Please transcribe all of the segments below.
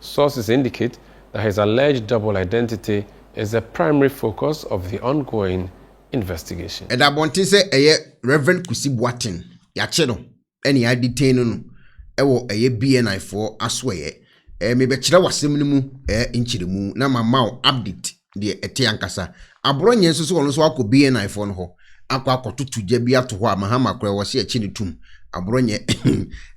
Sources indicate that his alleged double identity is the primary focus of the ongoing investigation. Ɛda abɔnten sɛ ɛyɛ Rev. Kwesi Boateng, yɛakye no ne yɛadetain no no wɔ ɛyɛ BNI foɔ asoɛeɛ. Ɛɛ mebɛkyerɛ wo asɛm no mu ɛɛ nkyerɛmu na mama wo update deɛ ɛte ankasa. Aborɔ nyɛ nso sɛ ɔno nso akɔ BNI foɔ no hɔ akɔ akɔtoto gya bi ato hɔ a Mahama koraa wɔse akye no tum. Aborɔ nyɛ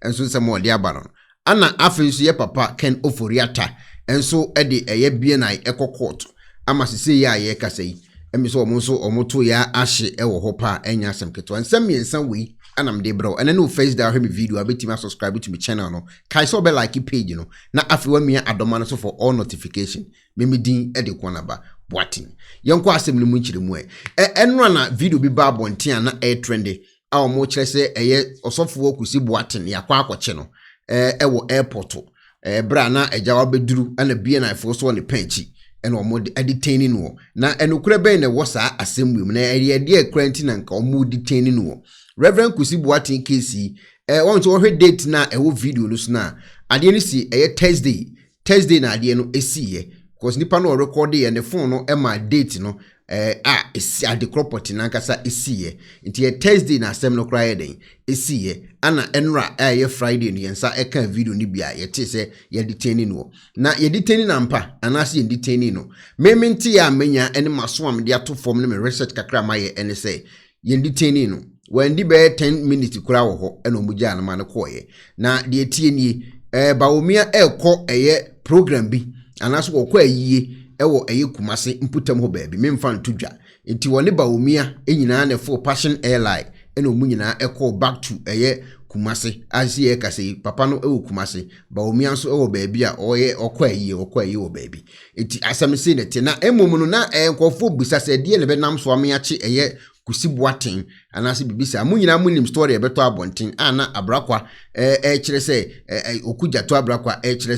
nso nsɛm a ɔde aba no Ana afei nso yɛ papa Ken Ofori-Atta nso de ɛyɛ BNI kɔ kɔɔto ama sesei yi a yɛrekasa yi. Ɛme sɛ wɔn nso wɔn to yɛ ahye wɔ hɔ pa a ɛnyɛ asɛm ketewa. Nsɛm mmiɛnsa wei na mede brɛ wo ɛnɛ ne wo first da ahwɛ me video a wobɛtumi asubscribe to me channel no. Kae sɛ wobɛ like page no na afei wamia adɔma no so for all notification. Me me din de Kuanaba Boateng. Yɛnkɔ asɛm no mu nkyerɛmu ɛ. Ɛ ɛnora na video bi baa abɔnten a na ɛretrende a wɔkyerɛ sɛ ɛyɛ ɔsɔfoɔ Kwesi Boateng yɛakɔ akɔkye no wɔ airport berɛ a na agya wabɛduru na BNIfoɔ so wɔ ne pɛn akyi ɛna wɔn de detain ne noɔ na ɛnokorɛ bɛn na ɛwɔ saa asɛm wei mu na ɛyɛ deɛ kura nti na nka wɔn detain ne noɔ Reverend Kwesi Boateng case yi wɔn nso wɔhwɛ date na ɛwɔ video no so na adeɛ no si ɛyɛ Thursday Thursday na adeɛ no siiɛ because nipa no ɔrekɔdeɛ ne phone no ma date no eh, a esi adekorɔ pɔte no ankasa siiɛ nti yɛ Thursday na asɛm no koraa yɛ dɛn siiɛ ana ɛnora a ɛyɛ Friday no yɛn nsa ɛka video no bi a yɛte sɛ yɛde tɛni no na yɛde tɛni no ampa anaasɛ yɛde tɛni no meme nteɛ a menya ne maso a mede ato fam ne me research kakra mayɛ ɛne sɛ yɛn detainee no, wandi bɛyɛ ten minutes koraa wɔ hɔ ɛna wɔn gyaa no ma no kɔɔeɛ. Na deɛ ɛteɛ nie, ɛɛ Bawumia ɛrekɔ ɛyɛ program bi anaasɛ wɔkɔ ayie ɛwɔ ɛyɛ Kumase mputam hɔ baabi, memfa nto dwa. Nti wɔne Bawumia nyinaa na ɛfoo Passion Airline ɛna wɔn nyinaa ɛkɔɔ back to ɛyɛ Kumase. A sisi yɛrekasa yi, papa no ɛwɔ Kumase, Bawumia nso ɛwɔ baabi a ɔyɛ ɔkɔ ayie, ɔkɔ ayie wɔ baabi. Enti asɛm sei na ɛte. Na mmom no, na ɛyɛ nkurɔfoɔ bisa sɛ ɛdeɛ na ɛbɛnam so ame akye ɛyɛ Kusi Boateng anaasɛ biribi saa. Mo nyinaa monim story a ɛbɛtɔ abɔnten a na Abrakwa ɛrekyerɛ sɛ, Oku Gyato Abrakwa ɛrekyerɛ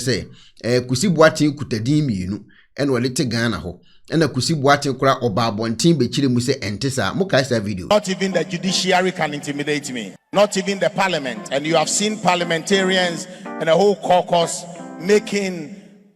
sɛ Kusi Boateng kuta din mmienu ɛna ɔde te Ghana hɔ. Ɛna Kusi Boateng koraa ɔbaa abɔnten bɛkyerɛ mu sɛ ɛnte saa. Mokae saa video no? Not even the judiciary can intimidate me, not even the parliament, and you have seen parliamentarians and a whole caucus making.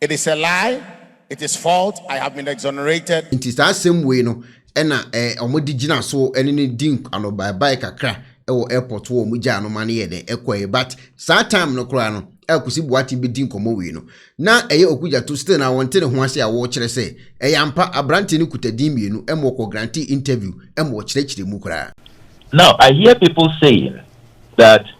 It is a lie, it is fault, I have been exonerated. Nti saa asɛm wei no na wɔn de gyina so ne no di anobaabae kakra wɔ airport hɔ, wɔn gyaa no ma no yɛ dɛ ɛkɔɛ but saa time no koraa no a Kwesi Boateng bɛdi nkɔmmɔ wei no na ɛyɛ Okudjato still na wɔnte ne ho ase a wɔkyerɛ sɛ ɛyɛ ampa aberanteɛ no kuta din mmienu ma wɔkɔ grante interview ma wɔkyerɛkyerɛ mu koraa. Now I hear people saying that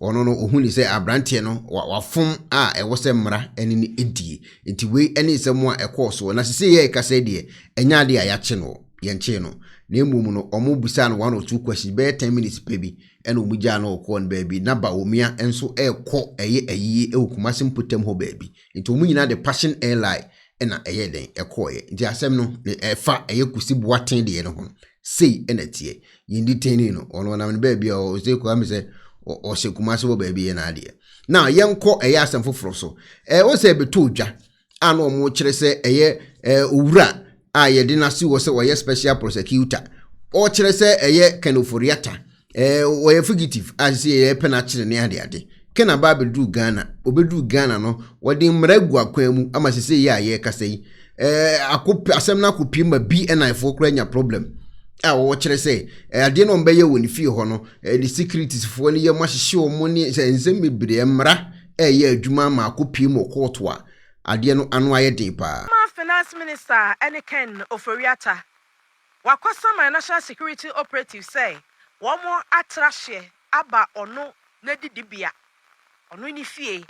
Ɔno no, ɔhu no sɛ aberanteɛ no, wa, wafom a ɛwɔ sɛ mmara ne no die. Enti wei ne nsɛm a ɛkɔɔ soɔ. Na sesei yɛ ɛkasa yi deɛ, ɛnyɛ adeɛ a yɛakye no, yɛnkyee no. Na mmom no, wɔn bisaa no one or two questions, bɛyɛ ten minutes pɛ bi, ɛna wɔn gyaa no ɔkɔɔ no baabi. Na Bawumia nso rekɔ ɛyɛ ayie wɔ Kumasi mpotam hɔ baabi. Nti wɔn nyinaa de Passion Airline na ɛyɛɛ dɛn? Ɛkɔeɛ. Nti asɛm no, ɛfa ɛyɛ Kusi Boateng deɛ no ho no, Sei na ɛteɛ. Yɛn detainee no, ɔno ɔnam ne baabi a ɔsɛ kura me sɛ ɔhyɛ Kumasi hɔ baabi yɛ n'adeɛ. Now yɛnkɔ ɛyɛ asɛm foforɔ so. Ɛɛ wɔn sɛ ɛbɛtɔ odwa a na wɔn kyerɛ sɛ ɛyɛ ɛɛ owura a yɛde n'asi hɔ sɛ ɔyɛ special prosecutor. Ɔkyerɛ sɛ ɛyɛ Ken Ofori-Atta. Ɛɛ wɔyɛ fugitive a sɛ yɛpɛ no akyere ne ade ade. Kena ba abɛduru Ghana. Ɔbɛduru Ghana no, wɔde mmara agu akwan mu ama sɛ sɛ yɛ a yɛrekasa yi. Ɛɛ ako asɛm no akɔpie ma bi ɛna ɛfoɔ koraa nya problem a wɔwɔ kyerɛ sɛ adeɛ no wɔbɛyɛ wɔ ne fie hɔ no ɛde securities foɔ no yɛ mo ahyehye wɔn ne sɛ nsɛm bebree mmara ɛyɛ adwuma ama akɔpie mu ɔkɔɔto a adeɛ no ano ayɛ den paa. Former Finance Minister ne Ken Ofori-Atta Wakwasama National Security Operative sɛ wɔn atra hyeɛ aba ɔno n'adidibea, ɔno ne fie,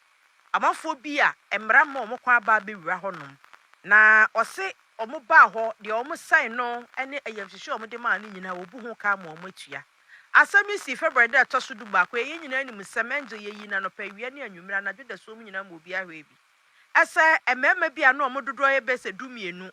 amanfoɔ bi a mmara mma wɔn kwan aba abɛwura hɔnom, na ɔse wɔn baa hɔ, deɛ wɔn sɛe no ne ayamhyehyeɛ a wɔn de maa no nyinaa wɔbu ho ka ma wɔn atua. Asɛm yi sii February da a ɛtɔ so du baako, yɛn nyinaa nim nsɛm, Angel yɛyii no anɔpa, awia ne anwummere, anadwo dasuom nyinaa ma obiara hwɛɛ bi sɛ mmarima bi a na wɔn dodoɔ yɛ bɛyɛ sɛ du mmienu,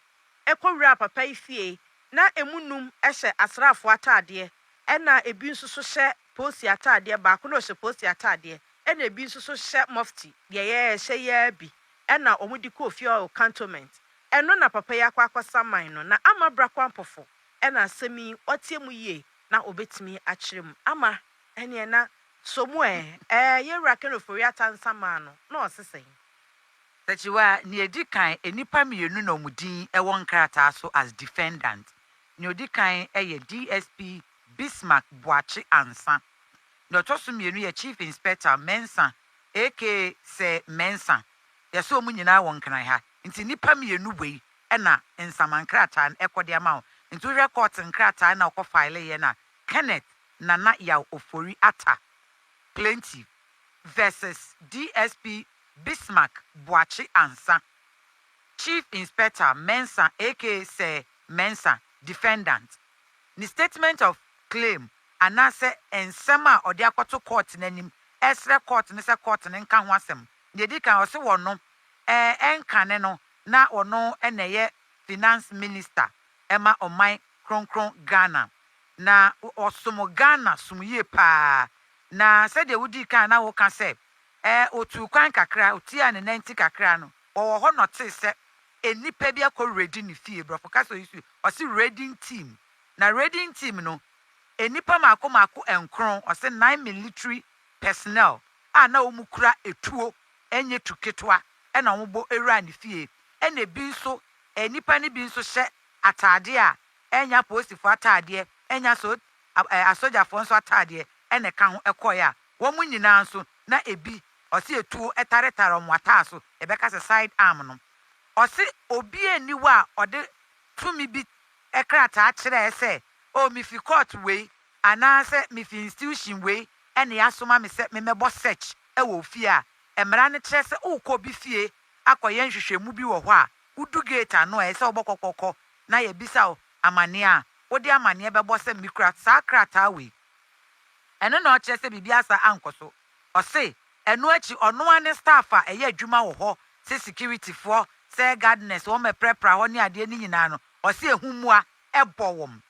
kɔwuraa papa yi fie na ɛmu nnum hyɛ asraafoɔ ataadeɛ ɛna ɛbi nso so hyɛ polsi ataadeɛ, baako na ɔhyɛ polsi ataadeɛ ɛna ɛbi nso so hyɛ mufti deɛ yɛhyɛ yi ara bi ɛna wɔn de kɔɔ fie hɔ wɔ cantonment ɛno na papa yi akɔ akɔ saman no na ama bra kwampɔfo ɛna asɛm yi ɔteɛ mu yie na ɔbɛtumi akyerɛ mu ama ɛneɛ na so mu ɛɛ ɛɛ yɛwura Ken Ofori-Atta nsaman no na ɔsesɛn. Akyiwaa a, nea edi kan, nnipa mmienu na wɔn din wɔ nkrataa so as defendant. Nea odi kan yɛ DSP Bismark Boakye Ansah. Nea ɔtɔ so mmienu yɛ Chief Inspector Mensah aka Sir Mensah. Yɛse wɔn nyinaa wɔ Nkran ha. Nti nnipa mmienu wei na nsama nkrataa no kɔ de ama wɔn. Nti wohwɛ court nkrataa na wɔkɔ fileeɛ no a, Kenneth Nana Yaw Ofori Attah, plaintiff, versus DSP Bismarck Boakye Ansah, Chief Inspector Mensah aka Sir Mensah, Defendant, ne statement of claim anaasɛ nsɛm a ɔde akɔto Court no anim ɛresrɛ Court no sɛ Court no nka ho asɛm. Nea ɛdi kan, ɔse wɔno ɛnkane no na ɔno na ɛyɛ Finance Minister ɛma Ɔman Kronkron Ghana. Na ɔsom Ghana som yie paa. Na sɛdeɛ wodii kan a na woka sɛ Ɛɛ, otuu kwan kakra, otuaa ne nanti kakra no, ɔwɔ hɔ na ɔtee sɛ nnipa bi akɔ Redi ne fie. Borɔfo kasa oyi so ɔse Reding team. Na Reding team no, nnipa mako mako nkron, ɔse nine military personnel a na wɔn kura etuo, ɛnyɛ tu ketewa, ɛna wɔn bɔ wuraa ne fie. Ɛna ebi nso, nnipa no bi nso hyɛ ataadeɛ a ɛnyɛ apolisifoɔ ataadeɛ, ɛnyɛ aso ɛɛ asogyafoɔ nso ataadeɛ ɛna ɛka ho kɔɔɛ a Wɔn nyinaa nso, na ebi, ɔse etuo taretare wɔn ataaso, yɛbɛka sɛ side arm no. Ɔse obiara nni hɔ a ɔde tumi bi krataa kyerɛɛ sɛ, oh mefi court wei anaasɛ mefi institution wei na yɛasoma me sɛ memmɛbɔ search wɔ wo fie a. Mmara no kyerɛ sɛ worekɔ obi fie akɔyɛ nhwehwɛmu bi wɔ hɔ a, wodu gate ano a ɛyɛ sɛ wobɔ kɔkɔkɔ na yɛabisa wo amaneɛ a, wode amaneɛ bɛbɔ sɛ mekura saa krataa wei. Ɛno na ɔkyerɛ sɛ biribi asa ankɔ so. Ɔse ɛno akyi ɔno ara ne staff a ɛyɛ adwuma wɔ hɔ sɛ security foɔ, sɛ gardeners wɔn ɛprapra hɔ ne adeɛ no nyinaa no ɔse ɛho mua bɔ wɔn.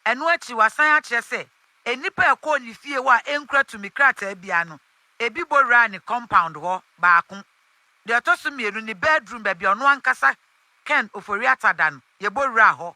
Ɛno akyi wasan akyerɛ sɛ nnipa a ɛkɔɔ ne fie hɔ a ɛnkura tumi krataa biara no ɛbi bɔ wuraa ne compound hɔ baako. Deɛ ɔtɔ so mmienu ne bedroom baabi a ɔno ankasa Ken Ofori-Atta da no yɛbɔ wuraa hɔ.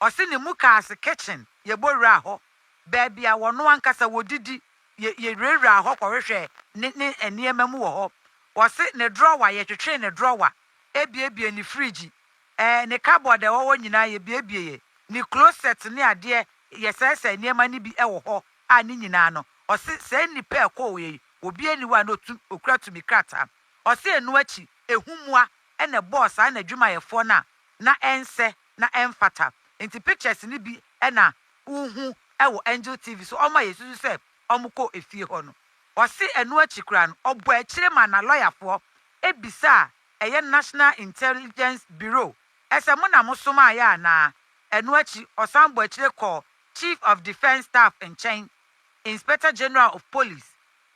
Ɔse ne mukaase kitchen yɛbɔ wuraa hɔ. Baabi a wɔn ankasa wɔdidi, yɛ, yɛwurawuraa hɔ kɔhwehwɛɛ ne, ne nneɛma mu wɔ hɔ. Wɔse ne drɔwa, yɛtwetwee ne drɔwa, ɛbiebiee ne friigyi, ɛɛ, ne kabɔɔd a ɛwɔ hɔ nyinaa yɛbiebieeɛ, ne klosɛt ne adeɛ, yɛsɛɛsɛɛ nneɛma no bi wɔ hɔ, a ne nyinaa no, ɔse saa nnipa a ɛkɔɔeɛ yi, obiara nni hɔ a na ɔtu, ɔkura tumi krataa. Ɔse ɛno akyi, ɛhumoa na ɛbɔɔ saa n'adwumayɛfoɔ no a na ɛnsɛ, na ɛmfata. Nti pictures no bi na wohu wɔ Angel TV so, ɔma yɛsusu sɛ wɔkɔɔ efie hɔ no. Ɔse ɛno akyi koraa no, ɔbɔɔ akyire maa n'alɔyafoɔ bisaa ɛyɛ National Intelligence Bureau sɛ mo na mosomaeɛ anaa. Ɛno akyi, ɔsan bɔɔ akyire kɔɔ Chief of Defence Staff nkyɛn, Inspector General of Police,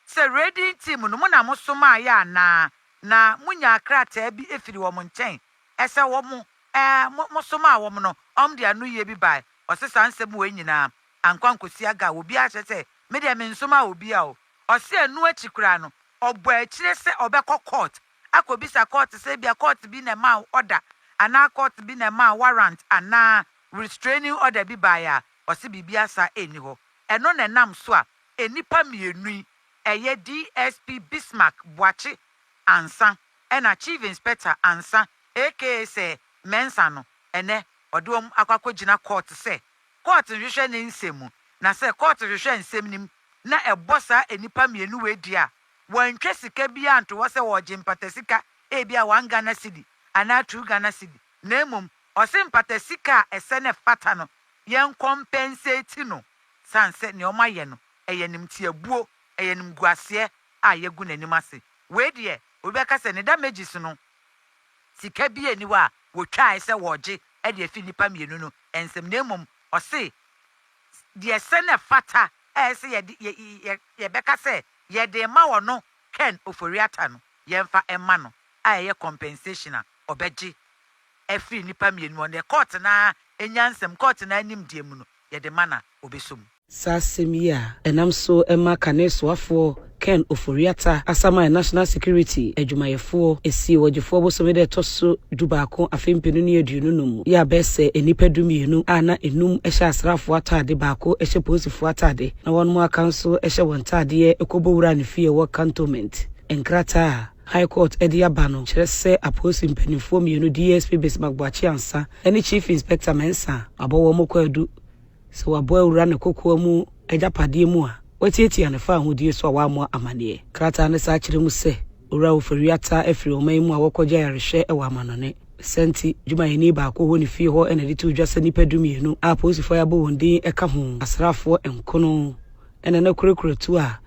sɛ Raiding Team no mo na mosomaeɛ anaa na monyaa krataa bi firi wɔn nkyɛn Ɛsɛ wɔn, ɛɛ, mo, mosomaa wɔn no, wɔn de anoyie bi bae. Ɔse saa nsɛm wei nyinaa ankɔ ankosi aga a obiara akyerɛ sɛ me deɛ mensomaa obia o. Ɔse ɛno akyi koraa no ɔbɔɔ akyire sɛ ɔbɛkɔ court akɔbisa court sɛ ebia court bi na ɛmaa wo order anaa court bi na ɛmaa warrant anaa restraining order bi baeɛ a, ɔse biribiara saa ɛnni hɔ. Ɛno na ɛnam so a nnipa mmienu yi, ɛyɛ DSP Bismark Boakye Ansah, Ɛna Chief Inspector Ansah aka sɛ Mensah no, ɛnɛ ɔde wɔn akɔ akɔgyina Court sɛ Court nhwehwɛ ne nsɛm mu, na sɛ Court hwehwɛ nsɛm no mu na ɛbɔ saa nnipa mmienu wei deɛ a, wɔantwa sika biara anto hɔ sɛ wɔregye mpatasika, ebia one Ghana cedi anaa two Ghana cedi, na mmom ɔse mpatasika a ɛsɛ na ɛfata no, yɛn compensate no, sane sɛ nea wɔayɛ no, ɛyɛ animtiabuo, ɛyɛ animguaseɛ a yɛagu n'anim ase. Wei deɛ obi bɛka sɛ ne damages no sika biaa nni hɔ a wɔtwaae sɛ wɔregye de afi nnipa mmienu no nsam na mmom ɔse deɛ sɛ na ɛfata a ɛsɛ sɛ yɛde yɛbɛka sɛ yɛde rema ɔno Ken Ofori-Atta no yɛmfa mma no a ɛyɛ compensation a ɔbɛgye afiri nnipa mmienu hɔ na court no ara nyansam court no ara nimdeɛ mu no yɛde ma na ɔbɛsɔ mu. Saa asɛm yi a ɛnam so ma kane soafoɔ Ken Ofori-Atta asaman National Security adwumayɛfoɔ ɛsii Ɔgyefoɔ bosome da ɛtɔ so du baako afe mpenu ne aduonu num mu, yɛ abɛɛ sɛ nnipa du mmienu a na ɛnum hyɛ asraafoɔ ataade, baako hyɛ polisifoɔ ataade na wɔnom aka nso hyɛ wɔn ntaadeɛ kɔ bɔ wuraa ne fie a ɛwɔ Cantonment. Nkrataa a High Court de aba no kyerɛ sɛ apolisi mpaninfoɔ mmienu DSP Bismark Boakye Ansah ne Chief Inspector Mensah abɔ wɔn kwaadu, Sɛ wɔabɔ awura ne kokoa mu agyapadeɛ mu a, wɔatiatia ne fawohodie so a wɔammɔ amaneɛ. Krataa no san kyerɛ mu sɛ, Owura Ofori ataa afiri ɔman yi mu a wɔkɔgye ayarehwɛ wɔ amannɔne. Ne saa nti, dwumayɛni baako wɔ ne fie hɔ na ɛde too dwa sɛ nnipa dumienu, a apolisifoɔ a yɛabɔ wɔn din ka ho asraafoɔ nkono, na na kurakura tuo a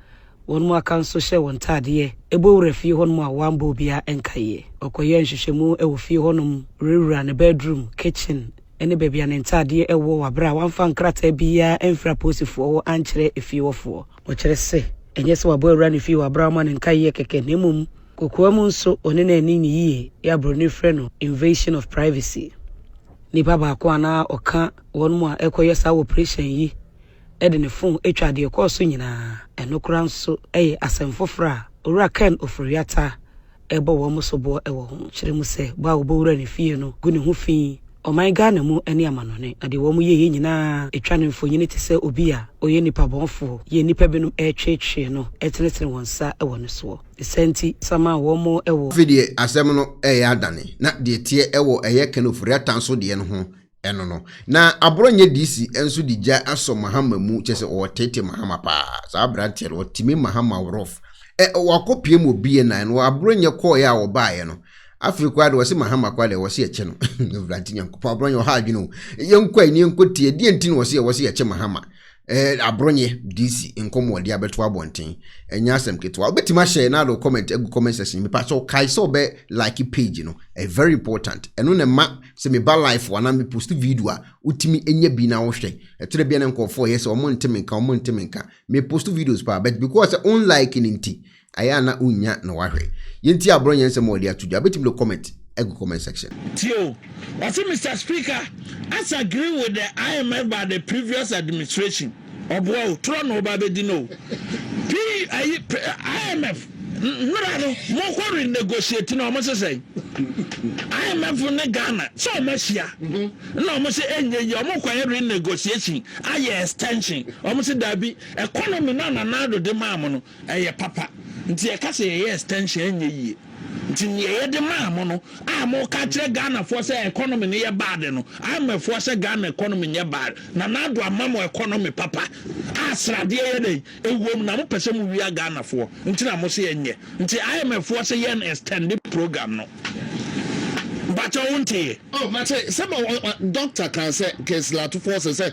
wɔn mu aka nso hyɛ wɔn ntaadeɛ, bɔ wura fie hɔnom a wɔammɔ obiara nkaeɛ. Wɔkɔyɛɛ nhwehwɛmu wɔ fie hɔnom, wurawuraa ne bɛɛdruum, kitchen, ne baabi a ne ntadeɛ wɔ wɔ berɛ a wamfa nkrataa biara amfiri apolisifoɔ hɔ ankyerɛ efie hɔfoɔ. Wɔkyerɛ sɛ, ɛnyɛ sɛ wabɔ awura no fie hɔ aberɛ a wɔma no nkaeɛ kɛkɛ na mmom kokoa mu nso ɔne no anni no yie, yɛ a Buroni frɛ no invasion of privacy. Nipa baako a na ɔka wɔn mu a ɛrekɔyɛ saa oprehyɛn yi de ne fon twaa deɛ ɛkɔɔ so nyinaa. Ɛno koraa nso yɛ asɛm foforɔ a Owura Ken Ofori-Atta rebɔ wɔn soboɔ wɔ ho. Kyerɛ mu sɛ, bɔ a wɔbɔ Owura no fie no gu ne ho fi. Ɔman Ghana mu ne amanɔne, adeɛ wɔyɛeɛ nyinaa twa no mfonini te sɛ obi a ɔyɛ nipabɔnfoɔ yɛ nnipa binom retweetwee no tenetene wɔn nsa wɔ no soɔ. Ne saa nti, sama a wɔn wɔ. Afei deɛ asɛm no reyɛ adane, na deɛ ɛteɛ wɔ ɛyɛ Ken Ofori-Atta nso deɛ no ho Ɛno no, na Aboro nyɛ DC nso de gya asɔ Mahama mu, kyerɛ sɛ ɔretete Mahama paa. Saa aberanteɛ no, ɔtimi Mahama worof. Ɛ, wakɔpiem wɔ BNI no, Aboro nyɛ kɔɔeɛ a wɔbaaeɛ no. Afei koraa de, wɔse Mahama koraa deɛ, wɔse yɛkyɛ no. Awurade Nyankopɔn, Aboro nyɛ ɔha adwene o. Yɛnkɔ a, ɛnni yɛnkɔtie. Deɛ nti na wɔse yɛ, wɔse yɛkyɛ Mahama. eh, abronyɛ DC nkɔmɔ de abɛto abɔnten ɛnyɛ asɛm ketewa wobɛtumi ahyɛ na ade comment agu comment section mepa sɛ wokae sɛ wobɛ like page no ɛyɛ very important ɛno na ɛma sɛ meba life anaa me post video a wotumi ɛnya bi na wohwɛ ɛkyerɛ bia ne nkurɔfoɔ ɛyɛ sɛ ɔmo nteme nka ɔmo nteme nka me post videos paa but because sɛ on like no nti Ayɛ a na wonnya na wahwɛ. Yɛntie aborɔ nyɛnsɛm a wɔde ato dwa. Wobɛtumi de comment agu comment section. Tie o, ɔse Mister Speaker, us agree with the IMF but the previous administration ɔboa o, torɔ na ɔba bɛdi no o. P ayi IMF mmra no mokɔ renegotiate no ɔmo se sɛn? IMF ne Ghana sɛ ɔmo ahyia na ɔmo se ɛnyɛ yie ɔmo kɔyɛ renegotiation ayɛ extension ɔmo se daabi economy no a Nana Addo de maa mo no Ɛyɛ papa. Nti yɛka sɛ yɛyɛ extension ɛnyɛ yie. Nti neɛ yɛde maa mo no a moka akyerɛ Ghana foɔ sɛ economy no yɛ bad no, IMF foɔ sɛ Ghana economy nyɛ bad. Nana Addo ama mo economy papa a sradeɛ yɛ dɛn? Ɛwom na mopɛ sɛ mowia Ghana foɔ nti na mose ɛnyɛ. Nti IMF foɔ se yɛn extend program no. Mpakyɛw wonteeɛ? Oh mate sɛ ma wo doctor kaa sɛ Kingsley Atufor se sɛ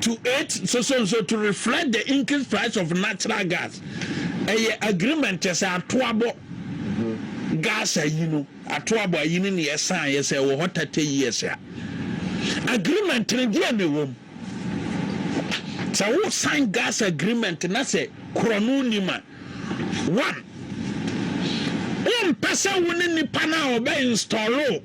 to it nsoso nso to reflect the increased price of natural gas ɛyɛ agreement kyɛ sɛ atoabɔ gas ayi no atoabɔ ayi no ne ɛsan yɛ sɛ ɛwɔ hɔ tata years a agreement no deɛ na ɛwɔ mu sɛ wo sign gas agreement na sɛ korɔno nim a one wompɛ sɛ wo ne nipa no a ɔbɛ install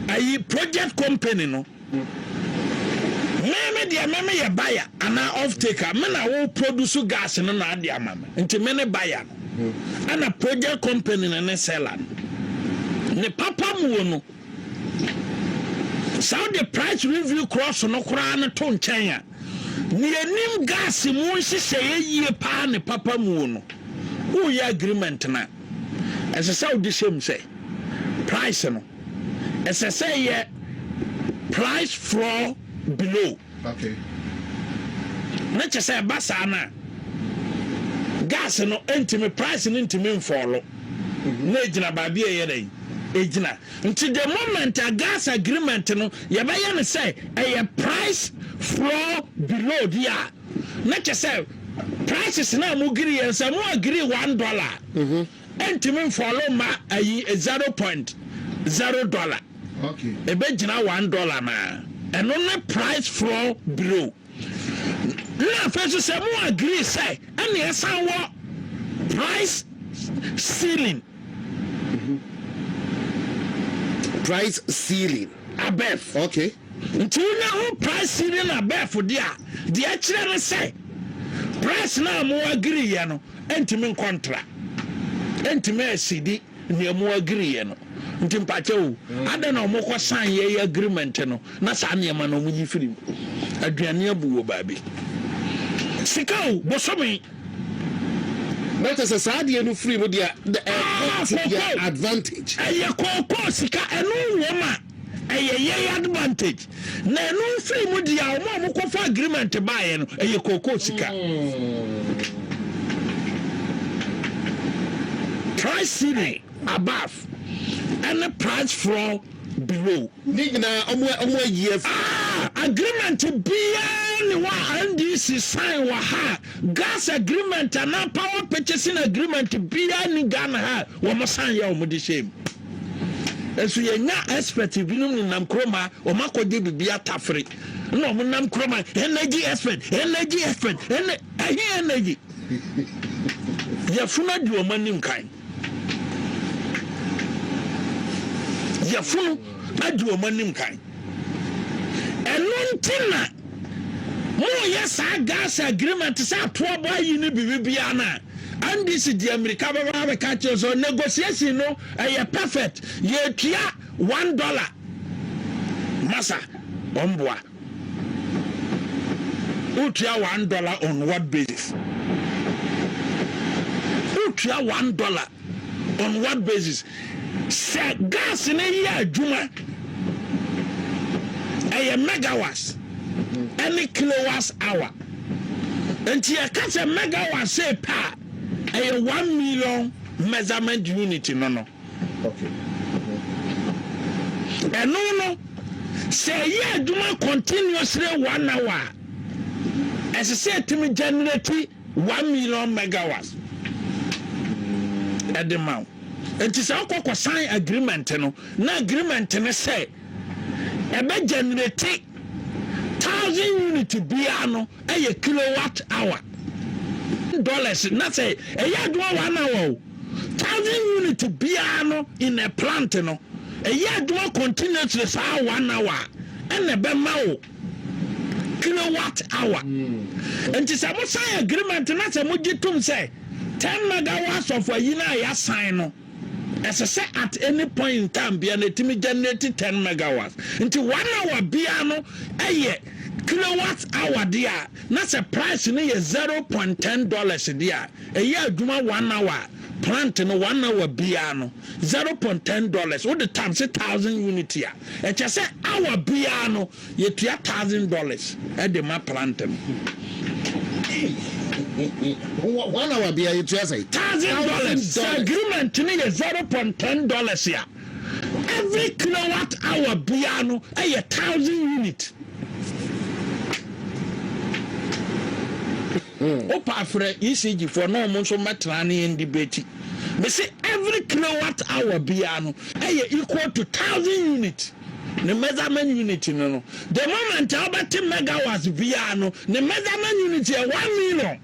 ayi project company no Me me deɛ me me yɛ buyer anaa off taker me na wo produce gas no na ade ama me nti me ne buyer no ɛna project company no ne seller no ne papa mu wɔ no saa de price review cross no koraa no to nkyɛn a ne yɛnim gas mu nhyehyɛeɛ yie paa ne papa mu wɔ no woyɛ agreement no a ɛsɛ sɛ wode hyɛm sɛ price no Ɛsɛ sɛ yɛ price frɔɔ below. Okay. Na kyɛ sɛ ɛba saa no a, gas no ntumi, price no ntumi mfɔɔlo. Mm-hmm. Na egyina baabi a ɛyɛ dɛ egyina. Nti the moment a gas agreement no yɛbɛyɛ no sɛ ɛyɛ price frɔɔ below di a, na kyɛ sɛ prices na mo giri yɛn sɛ mo agiri one dollar. Mm-hmm. ɛntumi mfɔlo ma ayi zero point zero dollar ɛbɛgyina one dollar no a ɛno ne price floor below na afei nso sɛ mo agree sɛ ɛne ɛsan wɔ price ceiling price ceiling above okay Nti wo nya ho price ne na bɛɛfo de a deɛ ɛkyerɛ ne sɛ price no a mo agiri yɛ no ɛntumi nkɔ ntra ɛntumi ɛsidi nea mo agiri yɛ no nti mpakyɛ o adɛ na ɔmo kɔ san yɛ yɛ agreement no na saa nneɛma no ɔmo yi firi mu aduane abu wɔ baabi sika o bosome. na kyɛ sɛ saa adeɛ no firi mu deɛ ɛkɔ to their advantage ɛyɛ kookoo sika ɛno wɔ ma. Ɛyɛ yɛn advantage na ɛno firi mu deɛ wɔn a wɔkɔfa agreement baeɛ no ɛyɛ kookoo sika. Price ceiling above ɛne price floor below. Ne nyinaa ɔmo ɔmo ayi afi. Ah, agreement biara ne wɔ a NDC sign wɔ ha. Gas agreement anaa power purchasing agreement biara ni Ghana ha wɔn sign yɛ wɔn de hyɛ mu. Nso yɛnya expert binom nenam kurom a wɔn akɔgye biribi atafere na wɔn nam kurom a energy expert energy expert ɛne ɛhe energy yɛfunu adi wɔn anim kan yɛfunu adi wɔn anim kan. Ɛno nti na moreyɛ saa Gaza agreement sɛ atoɔ bɔ ayi ne biribibiara no a, NDC de amirika bɛba abɛka akyerɛ wo sɛ negotiation no ɛyɛ perfect, yɛtua one dollar. Masa, ɔmboa. Wotua one dollar on what basis? Wotua one dollar on what basis sɛ gas no yɛ adwuma ɛyɛ megawas ɛne kilowas hour nti yɛka sɛ megawas sɛ pɛ a ɛyɛ one million measurement unit no no ɛno no sɛ ɛyɛ adwuma continuously one hour ɛsɛ sɛ ɛtumi generate One million megawatts ɛde ma wo nti sɛ wokɔ kɔ sign agreement no na agreement no sɛ ɛbɛ generate thousand unit biara no ɛyɛ kilowatt hour dollars na sɛ ɛyɛ adwuma one hour o thousand unit biara no in a plant no ɛyɛ adwuma continuously saa one hour ɛna ɛbɛma wo kilowatt hour. Nti sɛ mo sign agreement na sɛ mo gye tom sɛ 10 megawatts of ayi no a ya sign no, ɛsɛ sɛ at any point in time bia no ɛtumi generate 10 megawatts. Nti one hour bia no ɛyɛ kilowatt hour deɛ a, na sɛ price no yɛ 0.10 dollars deɛ a, ɛyɛ adwuma one hour, plant no one hour bia no. zero point ten dollars wode times thousand unit a ɛkyɛ sɛ hour biara no yɛtua thousand dollars ɛde ma plant no. one hour biara yɛtua sɛ thousand dollars sɛ agreement no yɛ zero point ten dollars a every kilowatt hour biara no ɛyɛ thousand unit. Opa frɛ ECG foɔ na ɔmo nso mmɛtra ne yɛn debate. Mese every kilowatt hour biara no ɛyɛ equal to thousand unit. Ne measurement unit no no the moment a wobɛte megawatts biara no ne measurement unit yɛ one million.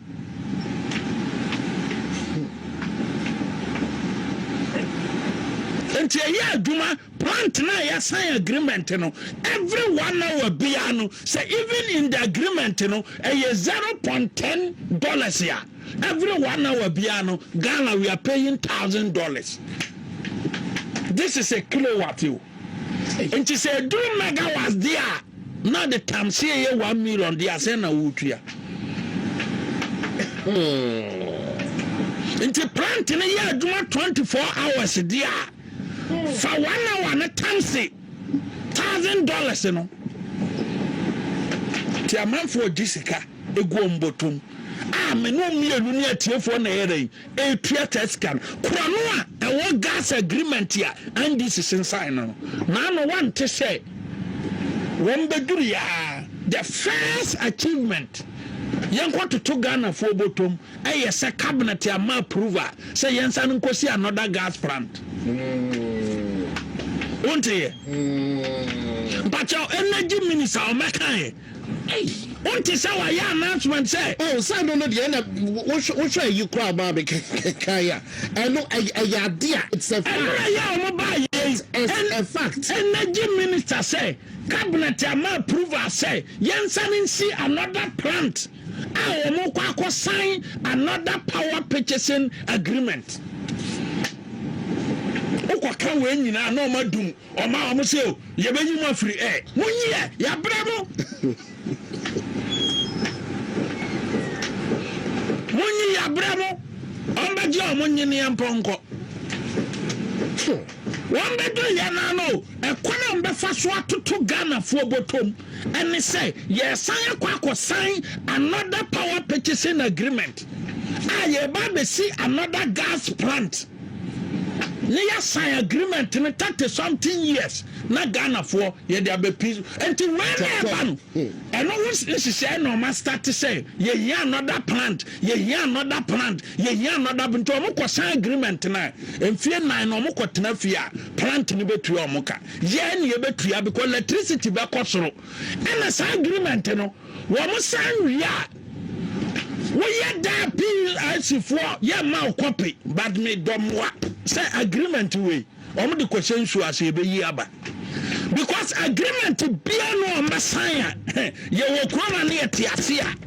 Enti ɛyɛ adwuma. Plant no a yɛasan agreement no every one hour biara no sɛ even in the agreement no ɛyɛ zero point ten dollars a every one hour biara no Ghana we are paying thousand dollars this is a kilowatt o nti sɛ eduru megawatts deɛ a na de tam se ɛyɛ one million deɛ asɛn na wotua hmm. nti plant no yɛ adwuma twenty four hours deɛ a Fa one hour no tam se thousand dollars no nti amanfoɔ gye sika egu wɔn bɔtom a me ne mmienu ne atiefoɔ na ɛyɛ dɛn etua taa sika no korɔno a ɛwɔ gas agreement a NDC sensan no no naano wante sɛ wɔn bɛduru yaa the first achievement yɛnkɔ toto Ghanafoɔ bɔtom ɛyɛ sɛ cabinet ama approval sɛ yɛnsan nkɔsi another gas plant wonteɛ mpakyɛw energy minister ɔmɛkaeɛ wonte sɛ wayɛ announcement sɛ oh sɛ no no deɛ na wohwɛ ayi koraa maa me kae a ɛno ɛyɛ ade a it's a fact ɛno na yɛ ɔmo baa yɛi it's a fact energy minister sɛ cabinet ama approval sɛ yɛnsan nsi another plant a wɔn kɔ akɔ sign another power purchasing agreement wokɔ ka wɔn nyinaa na wɔn adum wɔn a wɔn sɛ o oh, yɛbɛyi mu afiri ɛ mo nyi yɛ yɛabrɛ mo mo nyi yɛabrɛ mo wɔn bɛgye wɔn nyeneɛ mpɔnkɔ wɔn bɛdɔ yɛn ano ɛkwan a wɔn bɛfa so atoto ghanafoɔ bɔtɔm. ɛne sɛ yɛresan akɔ akɔsan another power purchasing agreement a yɛreba abɛsi another gas plant ne yɛasan agreement no thirty something years na ghanafoɔ yɛde abɛpi nti wei na ɛba no ɛno ho nhyehyɛe na ɔma start sɛ yɛhia another plant yɛhia another plant yɛhia another nti ɔmo kɔsan agreement no a mfie nan na ɔmo kɔtena fie a plant no bɛtua ɔmo ka Yɛn na yɛbɛtua because electricity bɛkɔ soro ɛna saa agreement no wɔn san wie a woyɛ daa plc foɔ yɛ ma wo kɔpe but me dɔmmoa sɛ agreement wei wɔn de kɔhyɛ nsuo ase yɛbɛyi aba because agreement bia no wɔn bɛsan a yɛwɔ kurom a ne yɛte ase a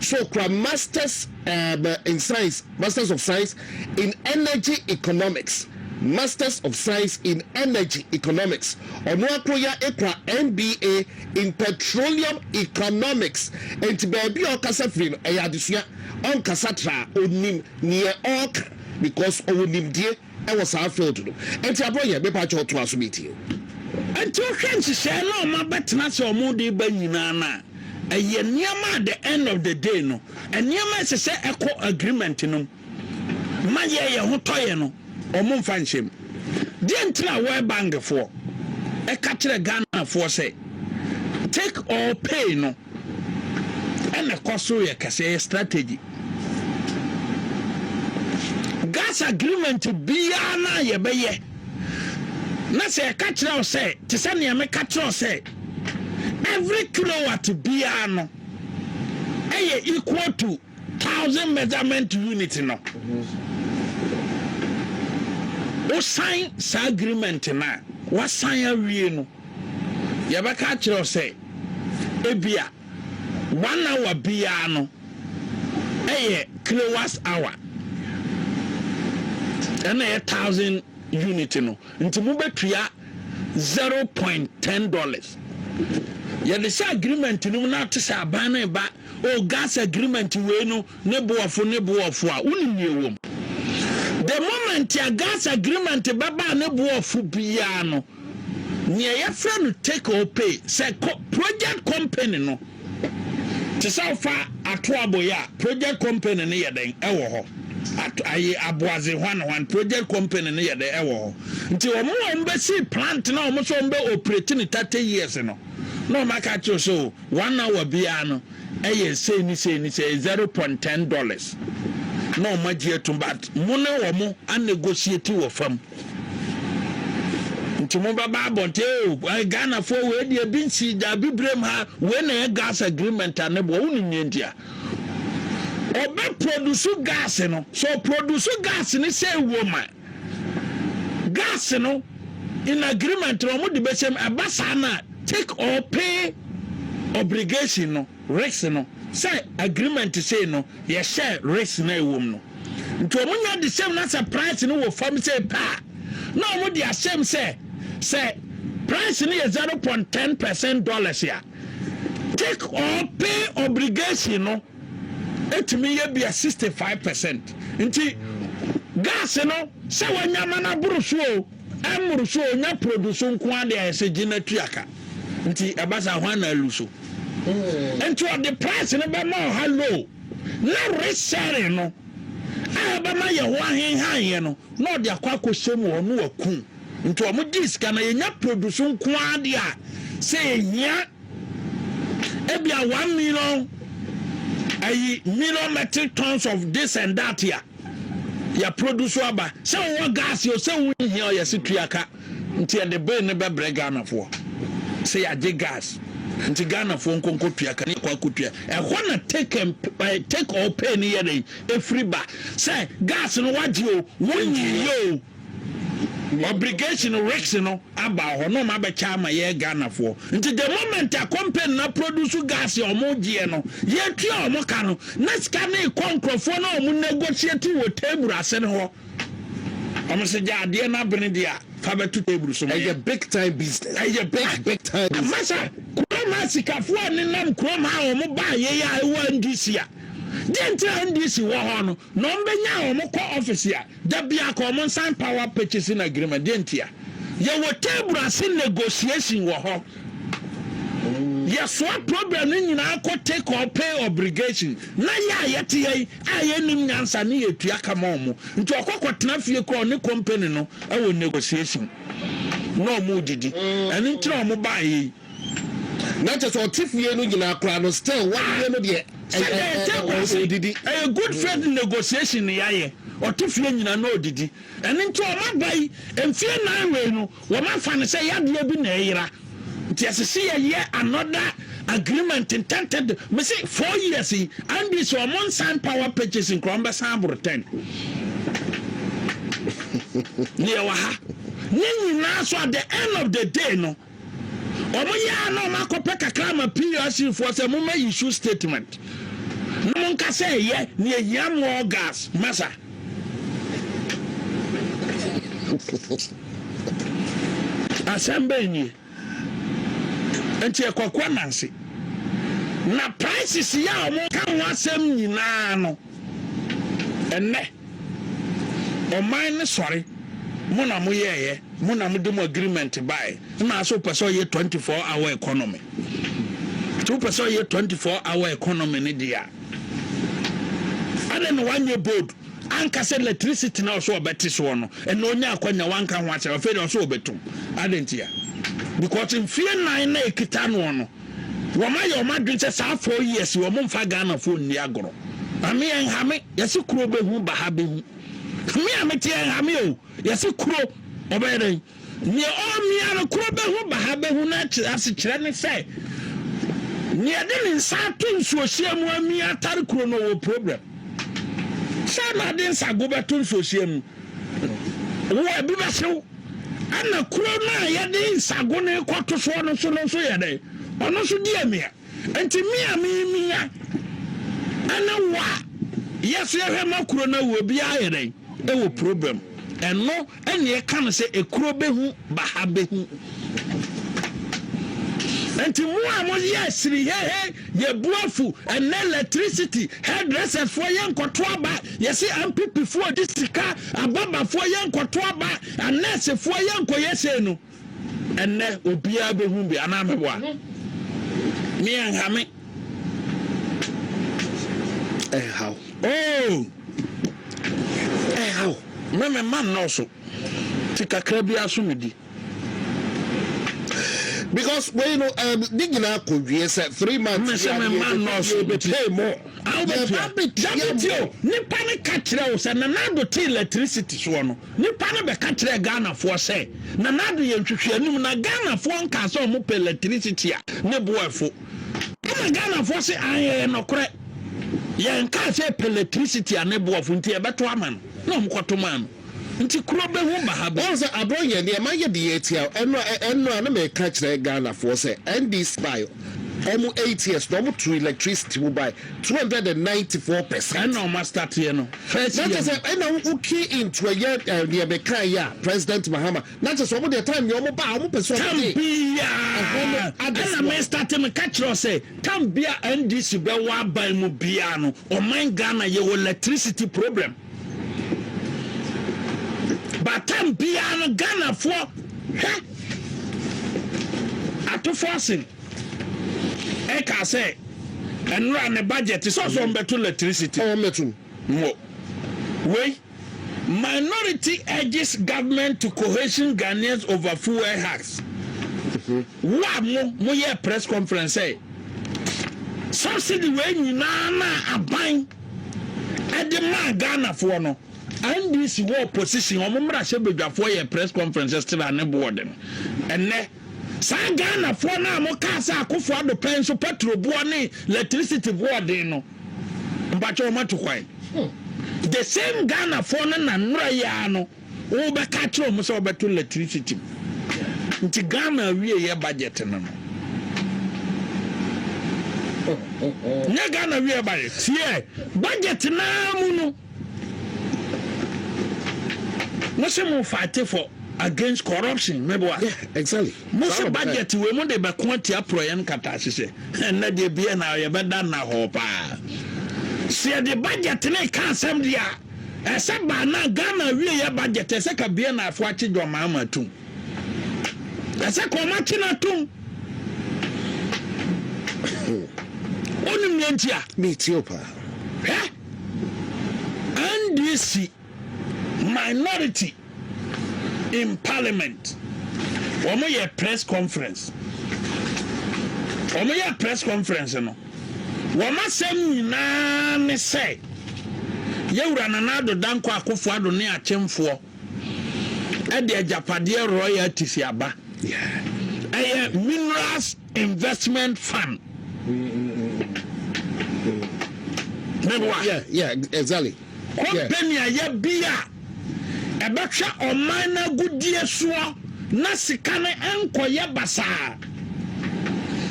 So okura Masters um in Science, Masters of Science in Energy Economics, Masters of Science in Energy Economics. Ɔno akoro yi ara ekura MBA in Petroleum Economics. Enti baabi a ɔkasa firi no, ɛyɛ adesua. Ɔnkasa traa, onim nea ɔreka because ɔwɔ nimdie. wɔ saa field no nti aboa yɛn mepa kyɛw toa so metie o. Nti wohwɛ nhyehyɛɛ no a ɔma bɛtena ase a ɔmo de ba nyinaa no a ɛyɛ nneɛma a the end of the day no nneɛma a ɛsɛ sɛ ɛkɔ agreement no mu ma yɛ yɛ ho tɔ yɛ no ɔmo nfa nhyɛ mu deɛ nti na World Bank foɔ ɛka kyerɛ Ghana foɔ sɛ take or pay no ɛna ɛkɔ so yɛ kɛse ɛyɛ strategy gas agreement biara na yɛbɛyɛ na sɛ ɛka kyerɛ wo sɛ te sɛ nea meka kyerɛ wo sɛ every kilowatt biara no ɛyɛ equal to Thousand measurement unit no wosan saa agreement no a wasan awie no yɛbɛka akyerɛ wo sɛ ebia one hour biara no ɛyɛ kilowatt hour ɛna ɛyɛ thousand unit no nti mobɛtua zero point ten dollars yɛde hyɛ agreement no mu na te sɛ aban no ba O gas agreement wei no ne boɔfo ne boɔfo a wonim nea ɛwɔ mu. The moment a gas agreement bɛbaa ne boɔfo biara no nea yɛfrɛ no take or pay sɛ project company no te sɛ wofa ato aboyɛ a project company no yɛ dɛn ɛwɔ hɔ ayi aboadze hwan hwan project company no yɛ dɛn ɛwɔ hɔ nti wɔn a wɔn bɛsi plant na wɔn nso wɔn bɛ operate ne thirty years no na wɔn aka kyerɛ so. One hour biara no ɛyɛ sei ne sei ne sei, zero point ten dollars na wɔn agye atum but mo ne wɔn anegotiate wɔ fam. Nti mo bɛba abɔnten o, oh, eh, Ghanafoɔ wei deɛ ebi nsi da abibirem ha, wei na yɛ gas agreement a ne boɔ, wonim nea nti a ɔbɛ produce gas no, so produce gas ne sɛ ɛwɔ ma. Gas no in agreement na wɔn de bɛhyɛ mu, ɛba saa no a take or pay obligation no, risk no, sɛ agreement sei no yɛ share risk na ɛwɔ mu no. Nti wɔn nyɛ de hyɛ mu na sɛ price no wɔ fam sei pɛ a, na wɔn de ahyɛ mu sɛ, sɛ price no yɛ zero point ten percent dollars a, take or pay obligation no, ɛtumi yɛ bia 65 percent nti gas no sɛ wanya ma no aboro so o ɛmmoro so o nya produce nko ara de ayɛ sɛ gye no atua ka nti ɛba saa hwan na alu so hmm. nti ɔde price no bɛma ɔha low na resharing no a ɛbɛma yɛ ho ahenhaeɛ no na ɔde akɔ akɔhyɛ mu hɔ no waku nti ɔmo gye sika na yɛnya produce nko ara de a sɛ ɛhia ebia one million ayi million metric tons of this and that a yɛproduce aba sɛ wowɔ gas o sɛ wonhia ɔyɛ se tua ka nti ɛde bee no bɛbrɛ ghanafoɔ sɛ yɛagye gas nti ghanafoɔ nkonko tua ka ne yɛkɔ akotua ɛhɔ na take and eh, take or pay ne yɛdɛn ɛfiri ba sɛ gas no wagye o wonyiyɛ o Obligation risk no aba hɔ na ɔmo abɛkyɛ ama yɛ Ghana foɔ. Nti the moment a company na produce gas a ɔmo gyeɛ no, yɛ tua ɔmo ka no, na sika no kɔ nkorɔfoɔ na ɔmo negotiate wɔ table ase no hɔ. Ɔmo se gya adeɛ no abene deɛ a, fa bɛto table so ma yɛn. Ɛyɛ big time business. Ɛyɛ big big time business. Masa, kurom ha sikafoɔ a nenam kurom ha a ɔmo baa yei a ɛwɔ NDC a, deɛ nti a NDC wɔ hɔ no, Na wɔn bɛ nyaa wɔn kɔ office a da biako wɔn nsan power purchasing agreement deɛ ntia yɛ wɔ table ase negotiation wɔ hɔ yɛ soa problem no nyinaa kɔ take or pay obligation na yɛ a yɛ te yɛ a yɛ nim nyansa ne yɛ tua kama wɔn nti ɔkɔ kɔ tena fie kɔ ne company no ɛwɔ negotiation na wɔn didi ɛno nti na wɔn baa yɛ yi. Na kyɛ sɛ ɔte fie no nyinaa koraa no still wadeɛ no deɛ Sɛdeɛ yɛte ɛ ɛ nkwa ase, ɔdidi. ɛyɛ good faith negotiation na yɛayɛ, ɔte fie nyinaa na ɔdidi. Ɛno nti wɔn aba yi, mfeɛ nnan wei no, wɔn afa no sɛ yadeɛ bi na ɛyera nti ɛsɛ sɛ yɛyɛ another agreement ntɛntɛdɛ. Me se four years yi ɛnde sɛ wɔn nsan power purchasing koraa wɔn bɛsan aboro ten. Na yɛwɔ ha. Ne nyinaa so at the end of the day no, Wɔn yɛ a na wɔn akɔpɛ kakra ama PLC foɔ sɛ mo ma issue statement na mo nka sɛ ɛyɛ ne ehia more gas masa. Asɛm bɛn nie? Nti ɛkwaku ananse. Na prices yɛ a wɔn ka ho asɛm nyinaa no ɛnɛ. Ɔman no sɔre, mo na mo yɛɛyɛ, mo na mo de mo agreement baɛ, nna so wopɛ sɛ ɔyɛ 24 hour economy? Sɛ wopɛ sɛ ɔyɛ 24 hour economy no deɛ a, ɛne na wanyɛ bold anka sɛ electricity na ɔsɛ ɔbɛte soɔ no, ɛna ɔnya akwanya wanka ho asɛm, afei deɛ ɔsɛ ɔbɛtum, adɛn ntia? Because mfie nan na ɛkita noɔ no, Wɔn ayɛ wɔn adwene sɛ saa four years yi wɔn nfa Ghana foɔ nni agorɔ. Ame ɛnhame yɛse kuro bɛhu baha bɛhu. Me a mete ɛnhame o yɛse kuro ɔbɛyɛ dɛn. Neɛ ɔmia no kuro bɛhu baha bɛhu na asekyerɛ ne sɛ neɛ de ne nsa ato nsuohyia mu amia atare kuro no ɔwɔ problem. Sɛ na ade nsago bɛto nsuohyia mu wo ɛbi bɛhyew. Ɛnna kuro no a yɛde nsagone kɔto soɔ no so no nso yɛ dɛn? Ɔno nso di amia. Enti me a memia ne wo a yɛ nso yɛhwɛ ma kuro no awu obiara yɛ dɛn? Ɛwɔ problem. Ɛno ɛnna ɛka no sɛ ekuro bɛhu baha bɛhu. Enti mo a moyɛ asirihehe, yɛbu afu, ɛnna electricity, hairdressers foɔ yɛnkɔto aba, Yɛse NPP foɔ di sika ababafoɔ yɛ nkɔto aba anurse foɔ yɛ nkɔyɛ sei no ɛnɛ obiara bɛhu bi anaa mɛboa me ɛnhame ɛnhaw oh ɛnhaw me me ma nnɔɔso ti kakra biara so medi. because wei no um, ne nyinaa kɔwie sɛ three months yɛ bɛpɛ mu yɛba bɛtia mu nipa no ka kyerɛ wo sɛ nanado te electricity soɔ no nipa no bɛka kyerɛ ghanafoɔ sɛ nanado yɛ nhwehwɛ anum na ghanafoɔ nka sɛ ɔmo pɛ electricity a ne boɛfo ɛna ghanafoɔ se ayɛyɛ nɔkorɛ yɛnka sɛ pɛ electricity a ne boɔfo nti yɛbɛto ama no na ɔmo kɔto maa no Nti kuro bɛ ho baha bɛ. Wahu sɛ abrɔ yɛn deɛ ma yɛ de yɛ tia ɛno a ɛno a na mɛ ka kyerɛ Ghana foɔ sɛ ND sbae ɔmo eight years na ɔmo tu electricity mu bae two hundred and ninety four percent. Ɛna ɔmo astateɛ no first year no. Na kyɛ sɛ ɛna wo key in to ɛyɛ ɛɛ deɛ mɛ ka yɛ a president Mahama na kyɛ sɛ ɔmo deɛ time deɛ ɔmo ba a ɔmo pɛ sɛ ɔmo de. Tam biaa ɛna mɛ starte mɛ ka kyerɛ sɛ tam bia NDC bɛ wɔ aban mu biaa no ɔman Ghana yɛ wɔ electricity problem. But time biaa no Ghanafoɔ hwɛ Atofoasen ɛkaa sɛ nnora ne budget sɛ ɔsɛ ɔmbɛto electricity mo wei Minority urges government to cohesion Ghanaians over fuel hikes. Wo a mo mo yɛɛ press conference sɛ subsidy wei nyinaa no a aban ɛde maa Ghana foɔ no, NDC wɔ opposition, wɔn mmarahyɛ badwafoɔ yɛɛ press conference still a ne bo wɔ den. Ɛnnɛ, saa Ghana foɔ no a mo kaa sɛ Akufo Addo pɛn nso petrol boɔ ne electricity bo wɔ den no, mpakyɛ wɔn atu kwan. The same Ghana foɔ no na nnora yi ara no, Wobɛka akyerɛ wɔn sɛ wɔbɛto lɛtirisiti mu. Nti Ghana awieɛ budget no no. Nyɛ Ghana awieɛ budget. Yɛ budget naa mu no. Mo se mo fight for against corruption meboa. Yeah, exactly. Mo se budget wei mo de bɛko atia porɔyɛ no kata ahyehyɛ. Ɛnna deɛ bia na yɛbɛda nna hɔ paa. Sɛ yɛde budget ne ka asɛm deɛ a. Ɛsɛ ba na Ghana awieɛ budget ɛsɛ ka bie na afo akye John Mahama atum. Ɛsɛ ka ɔmo akye no atum. Onim nea nti a. Me tie o paa. Hwɛ. NDC minority in parliament. Ɔmo yɛ press conference. Ɔmo yɛ press conference no. Wɔn asɛm nyinaa ne sɛ, Yɛ Wura Nana Addo Dankwa Akufo Addo ne Akyemfoɔ de agyapadeɛ royalties aba. Ɛyɛ Minerals Investment Fund. Meboa? Yeah, yeah, exactly. Kɔmpani a ɛyɛ bi a ɛbɛhwɛ ɔman no agodie soɔ na sika no nkɔyɛ basaa.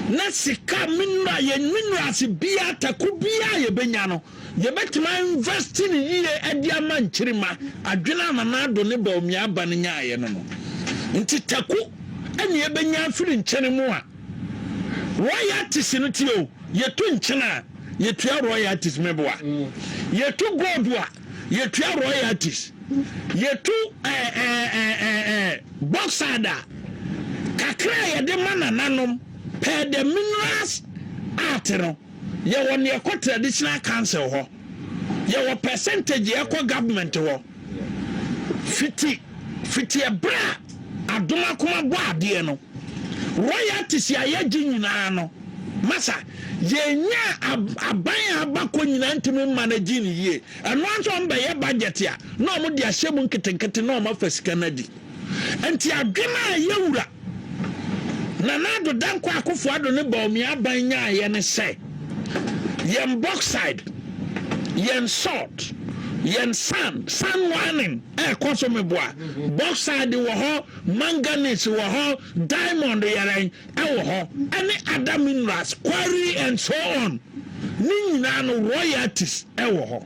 Na sika mineral, yɛn minerals biara, tako biara a yɛbɛnya no, yɛbɛtumi a invest no yie de ama Nkyirima, adwene a Nana Addo ne Bawumia Abba no nyaaeɛ no no. Nti tako na yɛbɛnya afiri nkyene mu a. Royalties no ti o, yɛtu nkyen a, yɛtua royalties, meboa. Yɛtu gold a, yɛtua royalties. Yɛtu eh, eh, eh, eh, eh, bauxite a, kakra a yɛde ma nananom per the minerals art no, yɛwɔ nea ɛkɔ traditional council hɔ. Yɛwɔ percentage a ɛkɔ government hɔ fiti fiti ɛberɛ a adom akoma bɔ adeɛ no royalties a yɛgye nyinaa no masa yɛnya aban a abakɔ nyinaa ntumi mma no gye ne yie ɛno nso ɔmbɛyɛ budget a na ɔmo de ahyɛ mu nketenkete na ɔmo afa sika no adi. Enti adwene a ɛyɛ wura Nana Addo Dankwa Akufo Addo ne Bawumia Aban nyaeɛ ne sɛ, Yɛn bauxide, yɛn salt, yɛn sand, sand mining a ɛkɔ so meboa, bauxide wɔ hɔ, manganese wɔ hɔ, diamond yɛrɛn wɔ hɔ, ɛne other minerals, quarry and so on, ne nyinaa no royalties wɔ hɔ.